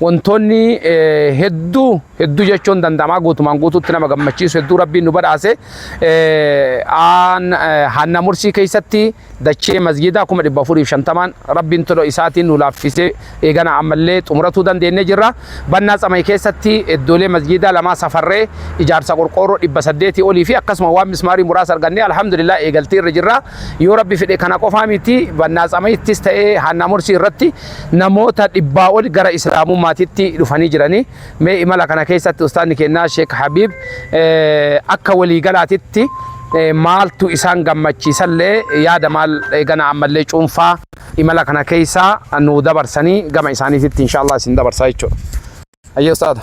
Wantoonni hedduu hedduu jechuun danda'amaa guutumaan guutuutti nama gammachiisu hedduu rabbiin nu badhaase hanna mursii keessatti dachee masjiidaa kuma dhibba afuriif shantamaan rabbiin toloo isaatiin nu laaffisee eegana ammallee xumuratuu dandeenyee jirra. Bannaa tsamay keessatti iddoolee masjiidaa lamaa safarree ijaarsa qorqoorroo dhibba saddeetii olii fi akkasuma waan mismaarii muraasa argannee alhamdulillah eegaltii irra jirra. Yoo rabbi fedhe kana qofaa miti bannaa tsamaittis ta'ee hanna mursii irratti Namoota dhibbaa ol gara Islaamummaatitti dhufanii jirani. Mee imala kana keessatti Ustaazni keenya Sheek Habiib akka walii galaatitti maaltu isaan gammachiisallee yaada maal eegana ammallee cuunfaa imala kana keessa nuu dabarsanii gama isaaniititti inshaa Allah isin dabarsaa jechuudha. Hayyee Ustaaza.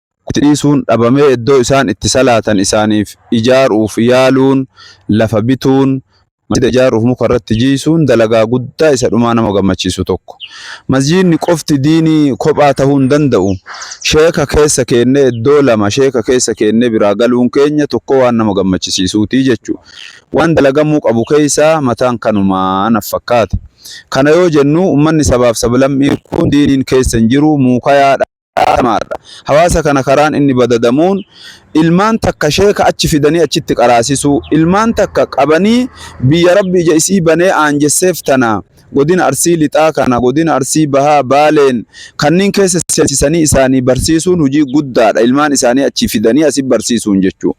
Quxisuun dhabamee iddoo isaan itti salaatan isaaniif ijaaruuf yaaluun, lafa bituun, masjiida ijaaruuf muka irratti jiisuun dalagaa guddaa isa dhumaa nama gammachiisu tokko. Masjiidni qofti diinii kophaa tahuu hin danda'u. Sheeka keessa keennee iddoo lama sheeka keessa keennee biraa galuun keenya tokkoo waan nama gammachisiisuuti jechuudha. Waan dalagamuu qabu keessaa mataan kanumaa naf fakkaate. Kana yoo jennu ummanni sabaaf sablammii kun diiniin keessa hin jiru, muukayaadha. qabatamaadha. Hawaasa kana karaan inni badadamuun ilmaan takka sheeka achi fidanii achitti qaraasisuu, ilmaan takka qabanii biyya Rabbi ija isii banee aanjesseef tana Godina Arsii Lixaa kana Godina Arsii Bahaa, Baaleen kanniin keessa seensisanii isaanii barsiisuun hujii guddaadha. Ilmaan isaanii achii fidanii asi barsiisuun jechuun.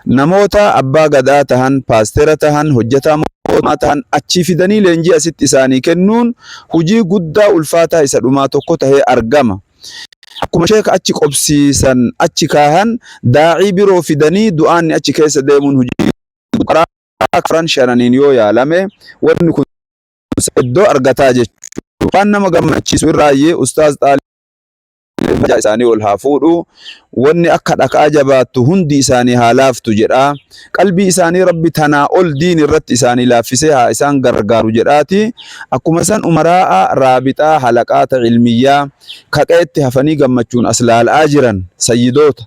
Namoota abbaa gadaa tahan, paastera tahan, hojjetaa mootummaa tahan achii fidanii leenjii asitti isaanii kennuun hujii guddaa ulfaataa isa dhumaa tokko tahee argama. Akkuma sheeka achi qobsiisan, achi kaahan, daa'ii biroo fidanii du'aanni achi keessa deemuun hujii guddaa karaa afran shananiin yoo yaalame wanni kun iddoo argataa jechuudha. Waan nama gammachiisu irraayyi ustaaz xaalib Darajaa isaanii ol haa fuudhu. Wanni akka dhakaa jabaattu hundi isaanii haa laaftu jedha. Qalbii isaanii Rabbi tanaa ol diin irratti isaanii laaffisee haa isaan gargaaru jedhaati. Akkuma san umaraa'a, raabixaa, halaqaata, cilmiyyaa, ka qe'etti hafanii gammachuun as laal'aa jiran, sayyidoota,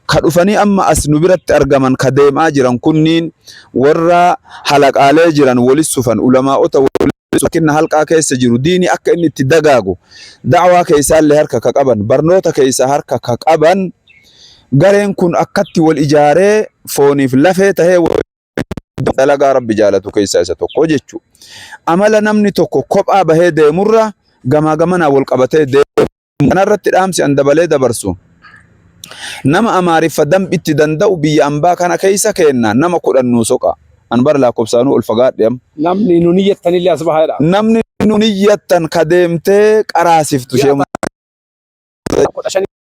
ka dhufanii amma as nu biratti argaman ka deem'aa jiran kunniin warra halaqaalee jiran woli sufan, ulamaa'ota woli kenna halqaa keessa jiru diini akka inni itti dagaagu da'waa keessaallee harka ka qaban barnoota keessa harka ka qaban gareen kun akkatti wal ijaaree fooniif lafee tahee dalagaa rabbi jaalatu keessaa isa tokko jechu amala namni tokko kophaa bahee deemurra gamaa gamanaa wal qabatee deemu Kana irratti dhaamsi an dabalee dabarsu nama Amaariffa dambi itti danda'u biyya ambaa kana keessa keenna nama kudhan nuu soqa. An bara laakobsaanuu ol fagaadhe am. Namni nu niyyattan illee as bahaa jedha. Namni nu niyyattan ka deemtee qaraasiftu ishee Ji'a kudha shanitti.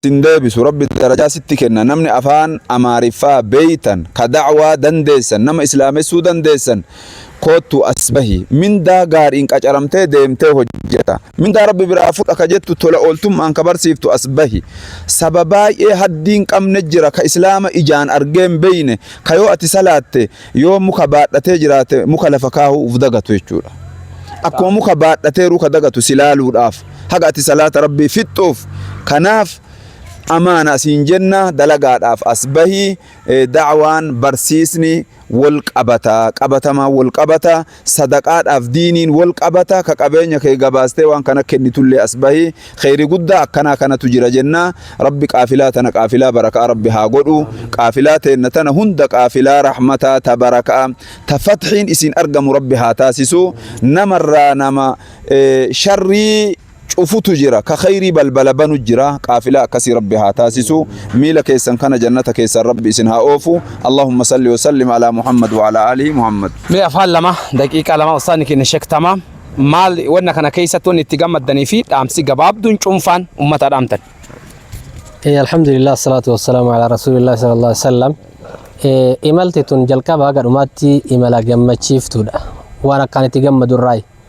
sin deebisu rabbi darajaa sitti kenna namni afaan amaariffaa beeytan ka da'waa dandeessan nama islaamessuu dandeessan koottu as bahi mindaa gaariin qacaramtee deemtee hojjeta mindaa rabbi biraa fudha ka jettu tola ooltummaan ka barsiiftu as bahi saba baay'ee haddiin qabne jira ka islaama ijaan argeen beeyne ka yoo ati salaatte Yoo muka baadhatee jiraate muka lafa kaahuu uf dagatu jechuudha. Akkuma muka baadhatee ruka dagatu si laaluudhaaf haga ati salaata rabbii fixxuuf kanaaf amaana siin jenna dalagaadhaaf as bahii eh, da'waan barsiisni wal qabata qabatamaa wal qabata sadaqaadhaaf diiniin wol qabata ka qabeenya kee gabaastee waan kana kennitullee as bahi kheeyri guddaa akkanaa kanatu jira jenna rabbi qaafilaa tana qaafilaa barakaa rabbi haa godhu qaafilaa teenna tana hunda qaafilaa rahmataa ta barakaa ta fathiin isiin argamu rabbi haa taasisu namarraa nama sharrii cufutu jira ka kheeyrii balbala banu jira qaafilaa akkasii rabbi haa taasisu miila keessan kana jannata keessaan rabbi isin haa oofu allahumma salli wa sallim alaa muhammad wa alaa aalihi muhammad Mee afaan lama daqiiqaa lama ustaadni keenya Sheek Tamaam maal wanna kana keessatti wanni itti gammaddanii fi dhaamsi gabaabduun cuunfaan uummataa dhaamtan. Eh, alhamdulillah assalatu wassalamu ala rasulillah sallallahu alaihi wasallam eh, imalti tun jalqaba haga dhumaatti imala gammachiiftuudha waan akkaan itti gammadu irraayi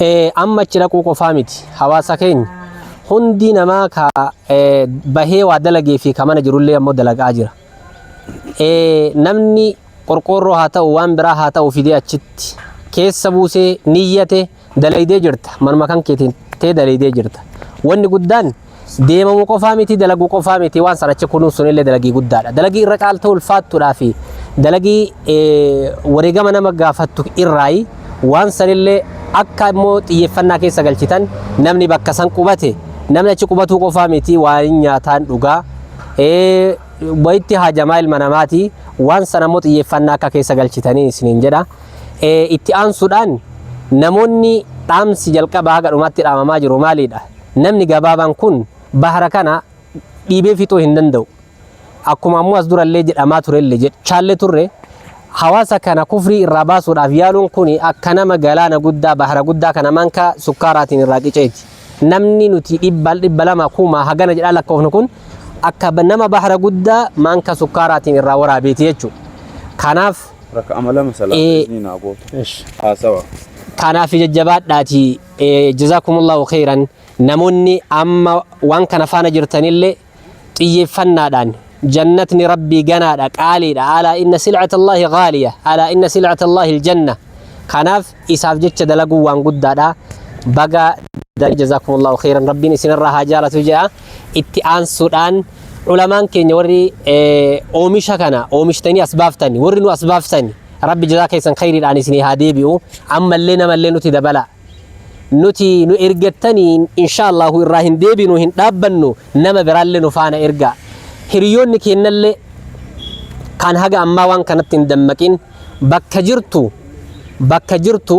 Eh, amma achi dhaquu qofaa miti hawaasa keenya hundi namaa ka eh, bahee waa dalagee fi ka mana jirullee ammoo dalagaa jira Eh, namni qorqoorroo haa ta'u waan biraa haa ta'u fidee achitti keessa buusee niyyate dalaydee jirta manuma kan keetiin tee dalaydee jirta wanni guddaan Deemamu qofaa miti dalagu qofaa miti waan san achi kunuunsuun illee dalagii guddaadha. Dalagii irra caaltuu ulfaattuudhaa fi dalagii wareegama nama gaafattu irraayi waan san illee akka immoo xiyyeeffannaa keessa galchitan namni bakka san qubate namni achi qubatuu qofaa miti waan nyaataan dhugaa wayitti haajamaa ilma namaati waan san ammoo xiyyeeffannaa akka keessa galchitanii isiniin jedha. Itti aansuudhaan namoonni dhaamsi jalqabaa haga dhumaatti dhaamamaa jiru maalidha? namni gabaabaan kun bahara kana dhiibee fixuu hin danda'u. Akkuma ammoo as durallee jedhamaa turelle jechaalle turre hawaasa kana kufrii irraa baasuudhaaf yaaluun kun akka nama galaana guddaa bahara guddaa kana manka sukkaaraatiin irraa qiceeti. Namni nuti dhibba dhibba lama kumaa hagana jedhaa lakkoofnu kun akka ba- nama bahara guddaa manka sukkaaraatiin irraa waraabeeti jechuudha. Kanaaf Raka'ama lama salaata Ee. iznii naa goota. Haasawa. kanaaf jajjabaadhaatii Jazaakumullaahu kheyran namoonni amma waan kana faana jirtanillee xiyyeeffannaadhaan jannatni rabbii ganaadha qaaliidha alaa inna silcata allaahi gaaliya alaa inna silcata allaahi aljanna kanaaf isaaf jecha dalaguu waan guddaadha baga jazaakumullaahu kheyran rabbiin isinirraa haa jaalatu jedha itti aansuudhaan ulamaan keenya warri eh, oomisha kana oomishtanii as baaftani warri nu as baaftani rabbi jazaa keessan khayriidhaan isinii haa deebi'u ammallee namallee nuti dabala nuti nu ergattanii inshaallahu irraa hin deebinu hin dhaabbannu nama biraallee nu faana erga hiriyoonni keennallee kan haga ammaa waan kanatti hin dammaqin bakka jirtu bakka jirtu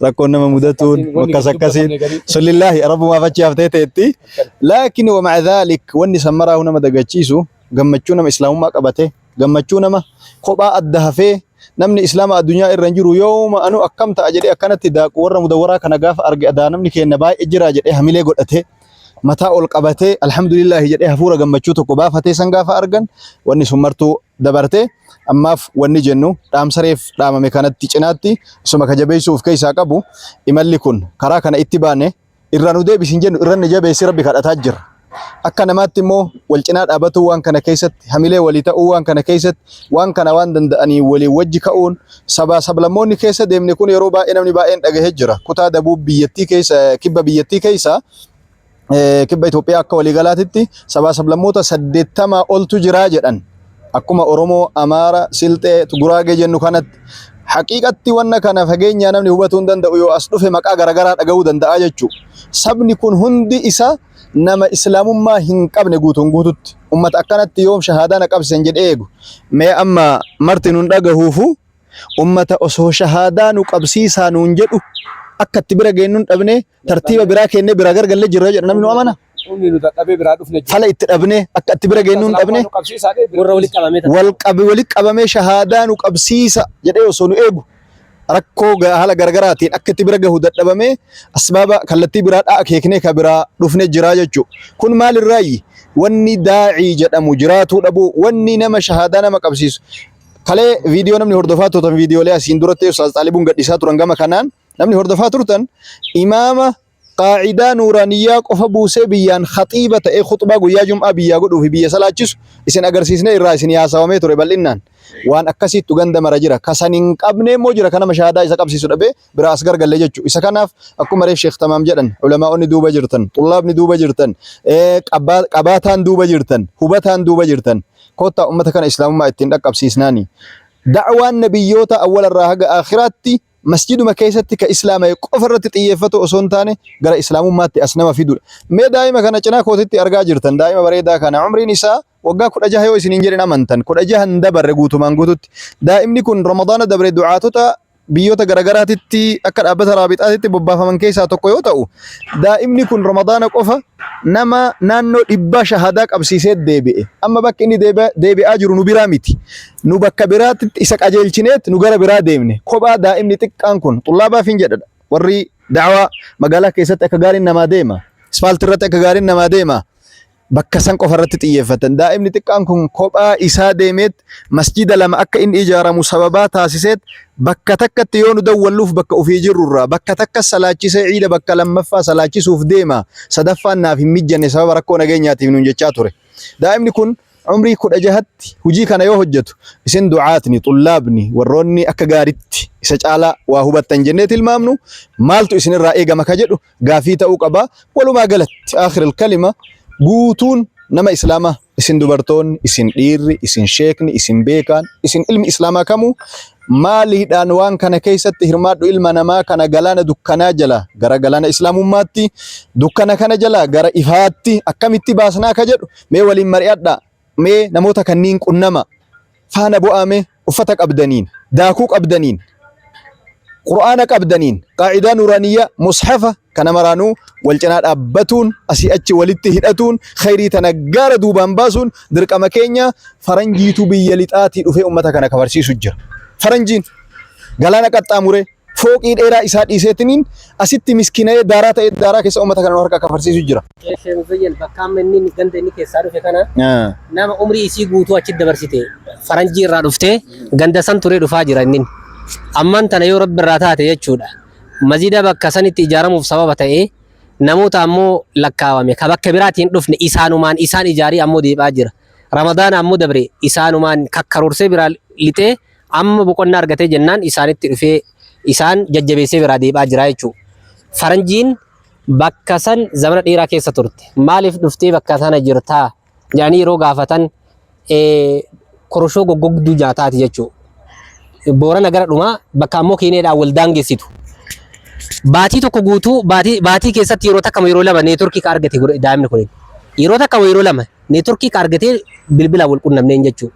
rakkoon nama mudatuun akkas akkasiin sullillaahi rabbumaaf achi haftee ta'etti laakiin wama dhaalik wanni san maraahu nama dagachiisu gammachuu nama islaamummaa qabate gammachuu nama kophaa adda hafee namni islaama addunyaa irra hin jiru yooma anu akkam ta'a jedhee akkanatti daaqu warra mudawaraa kana gaafa arge adaa namni keenna baay'ee jira jedhee hamilee godhate mataa ol qabatee alhamdulillaahi jedhee hafuura gammachuu tokko baafatee san gaafa argan wanni sun martuu dabarte ammaaf wanni jennu dhaamsa reef dhaamame kanatti cinaatti isuma ka jabeessuu of keessaa qabu imalli kun karaa kana itti baane irraa nu deebisi hin jennu irra nu jabeessi rabbi kadhataa jirra. Akka namaatti immoo wal cinaa dhaabatuu waan kana keessatti hamilee walii ta'uu waan kana keessatti waan kana waan danda'anii walii wajji ka'uun sabaa sablammoonni keessa deemne kun yeroo baay'ee namni baay'een dhagahee jira. Kutaa dabuub biyyattii keessa kibba biyyattii keessa eh, kibba Itoophiyaa akka waliigalaatitti sabaa sablammoota saddeettamaa oltu jiraa jedhan. Akkuma Oromoo, Amaara, Silxee, Guraagee jennu kanatti haqiiqatti wanna kana fageenyaa namni hubatuu hin danda'u yoo as dhufe maqaa garaagaraa dhaga'uu danda'a jechuudha. Sabni kun hundi isaa nama islaamummaa hin qabne guutuun guututti. Uummata akkanatti yoom shahaadaa na qabsiisan jedhee eegu. Mee amma marti nun dhagahuufu uummata osoo shahaadaa nu qabsiisaa nuun jedhu akka itti bira geenyuun dhabne tartiiba biraa kennee biraa gargalle jirra jedha namni nu amana. Humni nu dadhabee biraa dhufne jira. Fala itti dhabnee akka itti bira geenyu hin dhabne. Warra walitti qabamee ta'a. Wal qabe walitti qabamee shahaadaa nu qabsiisa jedhee osoo nu eegu rakkoo ga- haala garaagaraatiin akka itti bira gahu dadhabamee asbaaba kallattii biraa dhaa akeeknee ka biraa dhufne jira jechuudha. Kun maalirraayi? Wanni daa'ii jedhamu jiraatuu dhabuu wanni nama shahaadaa nama qabsiisu. Kalee viidiyoo namni hordofaa turan viidiyoolee asiin duratti Ustaaz Xaalibuun gadhiisaa turan gama kanaan Namni hordofaa turtan imaama qaacidaa nuuraaniyyaa qofa buusee biyyaan khaxiiba ta'ee khuxbaa guyyaa jum'aa biyyaa godhuu fi biyya salaachisu isin agarsiisnee irraa isin yaasawamee ture bal'innaan. Waan akkasiittu ganda mara jira. Ka san hin qabnee immoo jira ka nama shahaadaa isa qabsiisu dhabee biraa as gargalle jechu. Isa kanaaf akkuma reef sheekh tamaam jedhan ulamaa'onni duuba jirtan, xullaabni duuba jirtan, eh, qabaa- qabaataan duuba jirtan, hubataan duuba jirtan. Koottaa ummata kana islaamummaa ittiin dhaqqabsiisnaani. Da'waan nabiyyoota awwalarraa haga aakhiraatti masjiiduma keessatti ka islaama'e qofa irratti xiyyeeffatu osoo hin taane gara islaamummaatti as nama fidudha. Mee daa'ima kana cinaa kootitti argaa jirtan daa'ima bareedaa kana umriin isaa waggaa kudha jaha yoo isiniin jedhin amantan kudha jaha hin dabarre guutumaan guututti daa'imni kun ramadaana dabre du'aatota biyyoota garagaraatitti akka dhaabbata raabixaatitti bobbaafaman keessaa tokko yoo ta'u daa'imni kun ramadaana qofa nama naannoo dhibbaa shahadaa qabsiisee deebi'e amma bakki inni deebi'aa jiru nu biraa miti Nu bakka biraatti isa qajeelchineet nu gara biraa deemne. Kophaa daa'imni xiqqaan kun xullaabaafin jedha warri da'awaa magaalaa keessatti akka gaariin namaa deema. Ispaaltii irratti akka gaariin namaa deema. Bakka san qofa irratti xiyyeeffatan. Daa'imni xiqqaan kun kophaa isaa deemeet masjiida lama akka inni ijaaramu sababaa taasiseet bakka takkatti yoo nu dawwalluuf bakka ofii jirrurraa bakka takka salaachisee ciida bakka lammaffaa salaachisuuf deema. Sadaffaan naaf hin mijjanne sababa rakkoo nageenyaatiif nuun jechaa ture. Daa'imni kun Umrii 16tti hujii kana yoo hojjatu, isin du'aatni, xullaabni, warroonni akka gaaritti isa caalaa waa hubattan jennee tilmaamnu, maaltu isin irraa eegama ka jedhu gaafii ta'uu qaba. Walumaa galatti, aakhir al-kalima, guutuun nama Islaamaa, isin dubartoonni, isin dhiirri, isin sheekni, isin beekaan, isin ilmi Islaamaa kamuu, maaliidhaan waan kana keessatti hirmaadhu ilma namaa kana galaana dukkanaa jalaa gara galaana Islaamummaatti, dukkana kana jalaa gara ifaatti akkamitti baasnaa ka jedhu Mee waliin mari'adhaa. Mee namoota kanniin qunnamaa. Faana bu'aa mee. Uffata qabdaniin, daakuu qabdaniin, Qur'aana qabdaniin, qaa'idaa nuuraaniyyaa, mushafa kana maraanuu wal cinaa dhaabbatuun asii achi walitti hidhatuun khayrii tana gaara duubaan baasuun dirqama keenya faranjiitu biyya lixaatii dhufee ummata kana kafarsiisu jira. Faranjiin galaana qaxxaamuree fooqii dheeraa isaa dhiiseetiniin asitti miskina'ee daaraa ta'ee daaraa keessa uummata kana nu harkaa kafarsiisu jira. Sheekh Muzayyan bakka amma inni inni ganda inni keessaa dhufe kana nama umrii isii guutuu achi dabarsite faranjii irraa dhuftee ganda san turee dhufaa jira inni. Ammaan tana yoo rabbi irraa taate jechuudha. Masjida bakka sanitti ijaaramuuf sababa ta'ee namoota ammoo lakkaawame ka bakka biraatiin hin dhufne isaanumaan isaan ijaarii ammoo deebi'aa jira. Ramadaana ammoo dabre isaanumaan kakkaruursee biraa lixee Amma boqonnaa argatee jennaan isaanitti dhufee isaan jajjabeessee biraa deebi'aa jira jechuudha. Faranjiin bakka san zamana dheeraa keessa turte. Maaliif dhuftee bakka sana jirtaa? jedhanii yeroo gaafatan eh, koroshoo goggogduu nyaataati jechuudha. Boorana gara dhumaa bakka ammoo Keeniyaadhaan wal daangessitu. Baatii tokko guutuu baatii, baatii keessatti yeroo takka yeroo lama neetworkii ka argate godhe daa'imni kun. Yeroo takka yeroo lama neetworkii ka argatee bilbilaan wal qunnamneen jechuudha.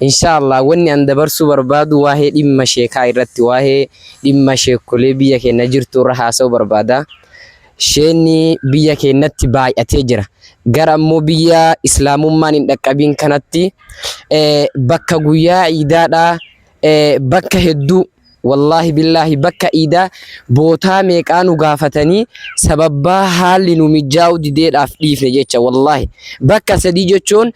Inshaa Allah wanni an dabarsuu barbaadu waahee dhimma sheekaa irratti waahee dhimma sheekkolee biyya keenna jirtu irra haasa'uu barbaada. Sheenni biyya keennatti baay'atee jira. Gara ammoo biyya islaamummaan hin dhaqqabiin kanatti bakka guyyaa iidaadhaa ee bakka hedduu wallaahi billaahi bakka iidaa bootaa meeqaa nu gaafatanii sababbaa haalli nu mijjaa'u dideedhaaf dhiifne jecha wallaahi bakka sadii jechuun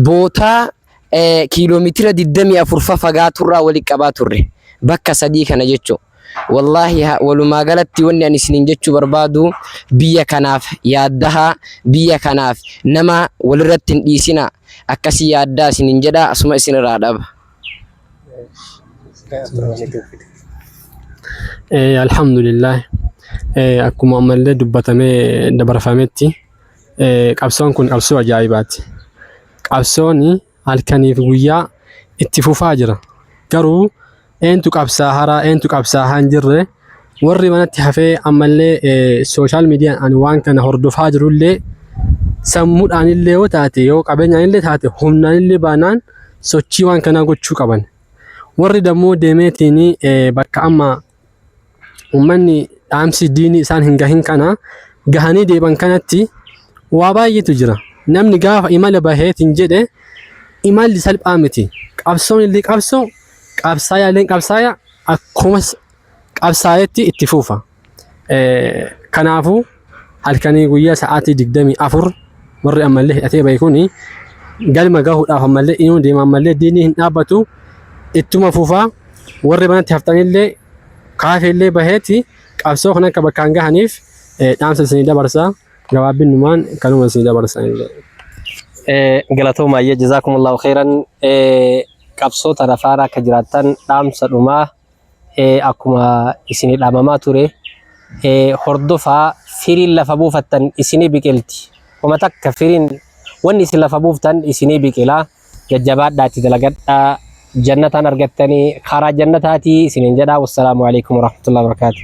bootaa ee kiiloomeetira 24 fa fagaaturraa wali qabaa turre bakka sadii kana jechuu wallaahi ha- walumaa galatti wanni ani isiniin jechuu barbaadu biyya kanaaf yaaddahaa biyya kanaaf nama walirratti hin dhiisinaa akkasii yaaddaa isiniin jedha asuma isinirraa dhaba. Alhamdulillah akkuma ammallee dubbatamee dabarfametti qabsoon kun qabsoo ajaa'ibaati. Qabsoon halkaniif guyyaa itti fufaa jira. Garuu eentu qabsaa'aa eentu qabsaa'aa hin jirre Warri manatti hafee ammallee sooshaal miidiyaan ani waan kana hordofaa jirullee sammuudhaanillee yoo taate yoo qabeenyaanillee taate humnaanillee baanaan sochii waan kanaa gochuu qaban. Warri dammoo deemeetiin bakka amma uummanni dhaamsi diinii isaan hin gahin kana gahanii deeban kanatti waa baay'eetu jira. Namni gaafa imala baheetiin jedhe imalli salphaa miti. Qabsoon illee qabsoo qabsaayaalleen qabsaaya akkuma qabsaa'etti itti fufa. Kanaafuu halkanii guyyaa sa'aatii 24 warri ammallee hidhatee bahe kuni galma gahuudhaaf ammallee inuu deema ammallee diinni hin dhaabbatu ittuma fufa warri manatti haftanillee kaafeellee baheeti qabsoo kan akka bakkaan gahaniif dhaamsa isinii dabarsa gabaabinnumaan kanuma isinii dabarsa illee. Galatoomaa jazaakumullahu khairan qabsoo tana faana akka jiraattan dhaamsa dhumaa akkuma isinii dhaamamaa ture hordofaa firiin lafa buufattan isinii biqilti homa takka firiin wanni isin lafa buuftan isinii biqila jajjabaadhaa itti dalagadhaa jannataan argattanii karaa jannataatii isiniin jedhaa wassalaamu alaikum warahmatullahi wabarakaatuh